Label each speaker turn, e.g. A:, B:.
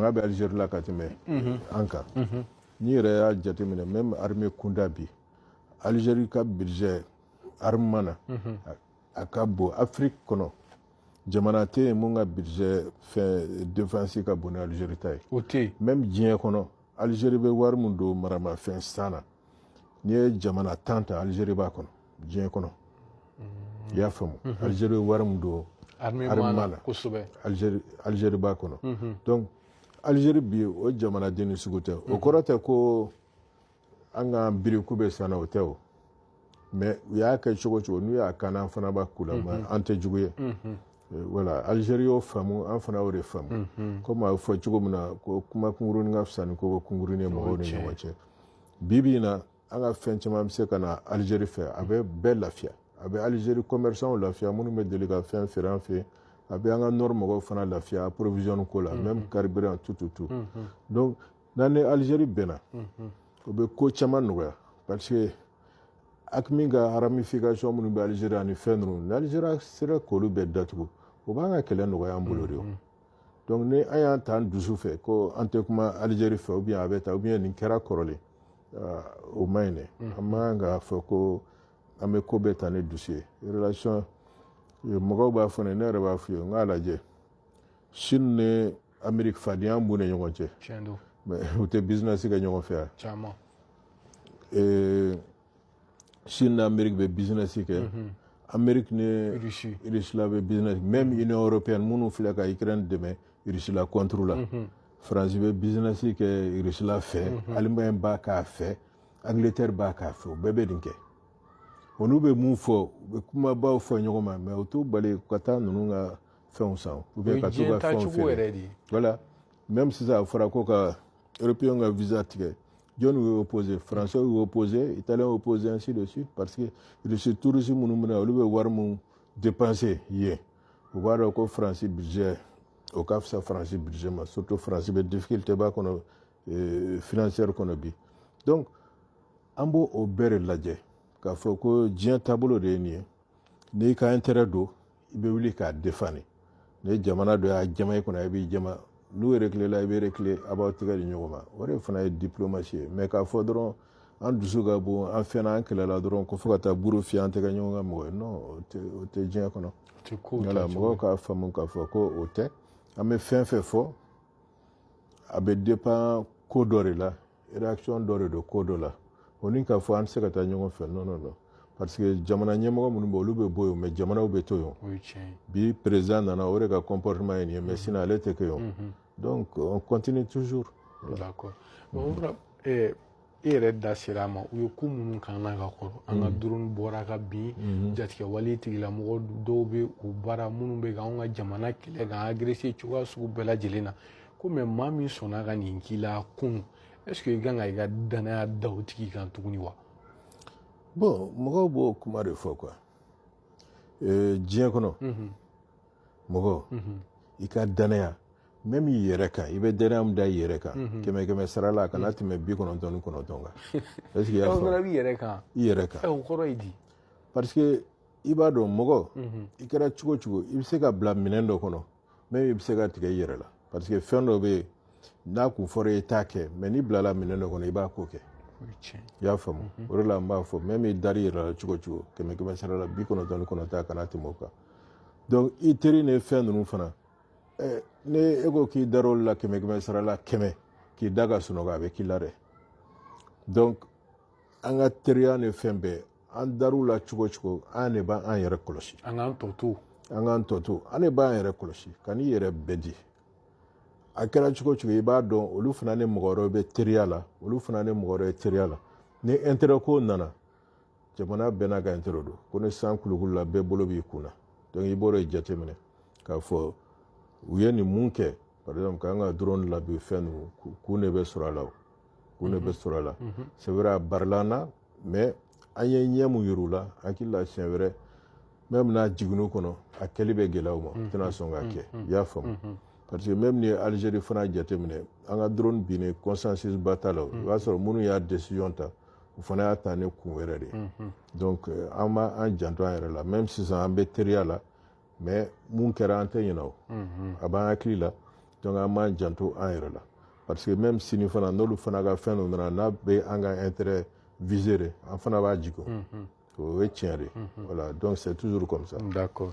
A: fanga bɛ alizeri la ka tɛmɛ an kan n'i yɛrɛ y'a jateminɛ même armée kunda bi alizeri ka budget armement na a ka bon afiriki kɔnɔ jamana tɛ yen mun ka budget fɛn défense ka bon ni alizeri ta ye o tɛ yen même
B: diɲɛ kɔnɔ
A: alizeri bɛ wari min don maramafɛn san na n'i ye jamana tan ta alizeri b'a kɔnɔ diɲɛ kɔnɔ mm-hmm. i y'a faamu mm-hmm. alizeri ye wari min don armement na
B: kosɛbɛ
A: alizeri b'a kɔnɔ mm-hmm. donc alizeri bi o jamana dennin sugu tɛ o kɔrɔ tɛ ko an ka biri k'u bɛ sanna o tɛ o mais u y'a kɛ cogo cogo n'u y'a k'an na an fana b'a k'u la mais an tɛ jugu ye voilà alizeri y'o faamu an fana y'o de faamu comme a bɛ fɔ cogo min na ko kuma kunkurunin ka fisa ni koko kunkurunin ye mɔgɔw ni ɲɔgɔn cɛ bi bi in na an ka fɛn caman bɛ se ka na alizeri fɛ a bɛ bɛɛ lafiya a bɛ alizeri commerçantw lafiya minnu bɛ deli ka fɛn feere an fɛ a bɛ an ka nord mɔgɔw fana lafiya approvisionne ko la même carburant tout tout tout donc n'an ni alizeri bɛnna o bɛ ko caman nɔgɔya parce que AQMI ka ramification minnu bɛ alizeri ani fɛn ninnu ni alizeri sera k'olu bɛɛ datugu o b'an ka kɛlɛ nɔgɔya an bolo de o donc ni an y'an ta an dusu fɛ ko an tɛ kuma alizeri fɛ ou bien a bɛ ta ou bien nin kɛra kɔrɔlen o ma ɲi dɛ an man kan k'a fɔ ko an bɛ ko bɛɛ ta ni dusu ye relation mɔgɔw b'a fɔ ne ne yɛrɛ b'a f'u ye n k'a lajɛ Chine ni Amérique fadenya b'u ni ɲɔgɔn cɛ mais u tɛ business kɛ ɲɔgɔn fɛ yan Chine ni Amérique bɛ business kɛ mhm. Amérique ni Russie la bɛ business même mhm. Union européenne minnu filɛ ka Ukraine dɛmɛ Russie la contre la mhm. France bɛ business kɛ Russie la fɛ Allemagne b'a k'a fɛ Angleterre b'a k'a fɛ u bɛɛ bɛ nin kɛ o n'u bɛ mun fɔ u bɛ kumabaw fɔ ɲɔgɔn ma mais o t'u bali u ka taa ninnu ka fɛnw san ou bien ka t'u ka fɛnw feere voilà même sisan a fɔra ko ka européen ka visa tigɛ jɔn de y'o opposé français y'o opposé italien y'o opposé ainsi de suite parce que russe touristes minnu bɛ na olu bɛ wari mun dépenser yen u b'a dɔn ko france budget o ka fisa france budget ma surtout france bɛ difficulté ba kɔnɔ euh, financière kɔnɔ bi donc an b'o o bɛɛ de lajɛ k'a fɔ ko diɲɛ taabolo de ye nin ye n'i ka intérêt don i bɛ wuli k'a défendre ni jamana dɔ y'a jama i kunna i b'i jama n'u reculer la i bɛ reculer a b'aw tɛgɛ di ɲɔgɔn ma o de fana ye diplomatie ye mais k'a fɔ dɔrɔn an dusu ka bon an fɛnna an kɛlɛla dɔrɔn ko fo ka taa buru fiyɛ an tɛ kɛ ɲɔgɔn ka mɔgɔ ye non o tɛ o tɛ diɲɛ kɔnɔ voilà mɔgɔw k'a faamu k'a fɔ ko o tɛ an bɛ fɛn fɛn fɔ a bɛ dépend ko dɔ de la réaction dɔ de don ko dɔ la o ni k'a fɔ an tɛ se ka taa ɲɔgɔn fɛ non non non parce que jamana ɲɛmɔgɔ minnu bɛ olu bɛ bɔ yen mais jamanaw bɛ to yen bi président nana o de ka comportement ye nin ye mais sinon ale tɛ kɛ yen donc on continue toujours
B: d'accord e yɛrɛ da sera a ma u ye ko minnu k'an na ka kɔrɔ an ka drone bɔra ka bin jatigɛwale tigilamɔgɔ dɔw bɛ u bara minnu bɛ ka anw ka jamana kɛlɛ k'an agresser cogoya sugu bɛɛ lajɛlen na ko mais maa min sɔnna ka nin k'i la kun est ce que i kan ka i ka dannaya da o tigi kan tuguni wa
A: bon mɔgɔw b'o kuma de fɔ quoi euh, diɲɛ kɔnɔ mɔgɔ i ka dannaya même i yɛrɛ kan i bɛ dannaya min da i yɛrɛ kan kɛmɛ kɛmɛ sara la a kana tɛmɛ bi kɔnɔntɔn ni kɔnɔntɔn kan est ce que i y'a faamu fana b'i yɛrɛ kan i yɛrɛ
B: kan ɛ o kɔrɔ
A: ye di
B: parce que
A: i b'a dɔn mɔgɔ i kɛra cogo o cogo i bɛ se ka bila minɛn dɔ kɔnɔ même i bɛ se ka tigɛ i yɛrɛ la parce que fɛn dɔ bɛ yen n'a kun fɔra i t'a kɛ mais n'i bilala minɛn dɔ kɔnɔ i b'a ko kɛ i y'a faamu mhm. o de la n b'a fɔ même n'i dar'i yɛrɛ la cogo cogo kɛmɛ kɛmɛ sara la bi kɔnɔntɔn ni kɔnɔntɔn a kana tɛmɛ o kan donc i teri ni fɛn ninnu fana eh, ni e ko k'i dar'olu la kɛmɛ kɛmɛ sara la kɛmɛ k'i da ka sunɔgɔ a bɛ k'i la dɛ donc an ka teriya ni fɛn bɛɛ an dar'u la cogo cogo an de b'an yɛrɛ kɔlɔsi an k'an tɔ
B: to an k'an tɔ to an
A: de b'an yɛrɛ kɔlɔsi kan'i yɛrɛ bɛɛ di a kɛra cogo cogo i b'a dɔn olu fana ni mɔgɔ wɛrɛw bɛ teriya la olu fana ni mɔgɔ wɛrɛw bɛ teriya la ni intérêt ko nana jamana bɛɛ n'a ka intérêt don ko ni san kulukulula bɛɛ bolo b'i kun na donc i b'o de jateminɛ k'a fɔ u ye nin mun kɛ par exemple k'an ka drone labin fɛn ninnu kun de bɛ sɔrɔ a la o kun de bɛ sɔrɔ a la c'est vrai a barila an na mais an ye ɲɛ mun yir'u la hakili la siɲɛ wɛrɛ même n'a jiginn'u kɔnɔ a kɛli bɛ gɛlɛya u ma mm-hmm. u tɛna sɔn k'a kɛ mm-hmm. i y'a faamu mm-hmm. parce que même n'i ye algérie fana jateminɛ an ka drone binni consensus ba t'a la o i b'a sɔrɔ minnu y'a décision ta u fana y'a ta ni kun wɛrɛ de ye donc euh, an b'an janto an yɛrɛ la même sisan an bɛ teriya la mais mun kɛra an tɛ ɲinɛ o mhm. a b'an hakili la donc an b'an janto an yɛrɛ la parce que même sini fana n'olu fana ka fɛn dɔ nana n'a bɛ an ka intérêt viser de an fana b'a jigin o ye tiɲɛ de ye voilà donc c'est toujours comme ça d'accord